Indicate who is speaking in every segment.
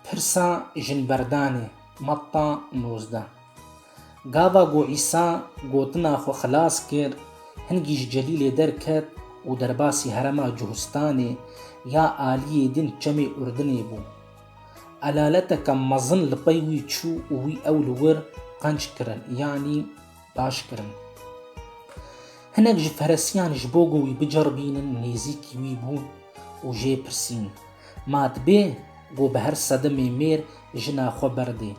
Speaker 1: Pirsa Jinberdanê, Matta nozdeh Gava ku Îsa gotina xwe xilas kir, hingî ji Celîlê derket û derbasî herema Cuhustanê ya aliyê din çemê Urdinê bû. Elaleteke mezin li pey wî çû û wî ew li wir qenc kirin, yanî, baş kirin. Hinek ji feresiyan ji bo ku wî biceribînin nêzîkî wî bûn û jê pirsîn, Ma dibê ku bi her sedemê mêr jina xwe berdê?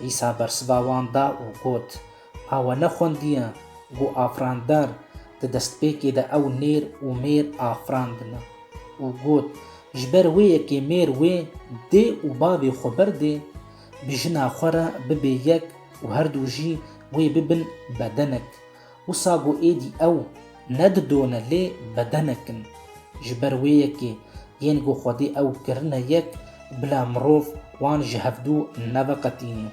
Speaker 1: Îsa bersiva wan da û got, A we nexwendiye ku afirandar di destpêkê de ew nêr û mêr afirandine? Û got, Ji ber wê yekê mêr wê dê û bavê xwe berdê, bi jina xwe re bibe yek û her du jî wê bibin bedenek. Wisa ku êdî ew nedidone lê bedenek in. Ji ber wê yekê yên ku Xwedê ew kirine yek bila mirov wan ji hevdu neveqetîne.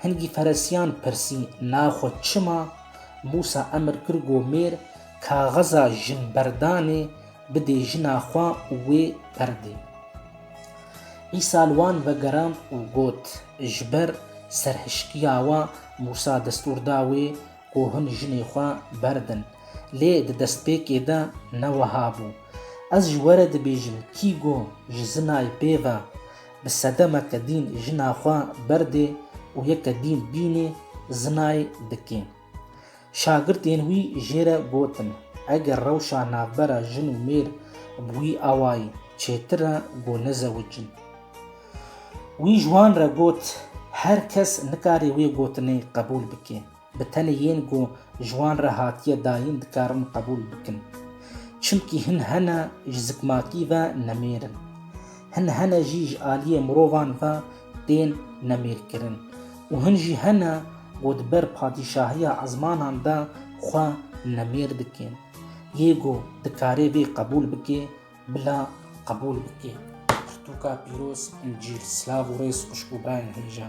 Speaker 1: Hingî Feresiyan pirsî na xwe çima Mûsa emir kir ku mêr kaxiza jinberdanê Bidê jina xwe wê perdê. Îsa li wan vegerand û got, Ji ber serhişkiya wan Mûsa destûr da wê ku hûn jinê xwe berdin. Lê di destpêkê de ne weha bû. Ez ji we re dibêjim kî ku ji zinayê pê ve bi sedemeke dîn jina xwe berdê û yeke dîn bînê zinayê dikê. Şagirtên wî jê re gotin, Eger rewşa navbera jin û mêr bi wî awayî çêtir e ku nezewicin. Wî ji wan re got, Her kes nikare wê gotinê qebûl bike. Bi tenê yên ku ji wan re hatiye dayîn dikarin qebûl bikin. Çimkî hin hene ji zikmakî ve nemêr in. Hin hene jî ji aliyê mirovan ve tên nemêrkirin û hin jî hene ku di ber padîşahiya ezmanan de xwe nemêr dikin. Yê ku dikarê vê qebûl bike, bila qebûl bike. Pirtûka pîroz, încîl, silav û rêz xwişk û birayên hêja.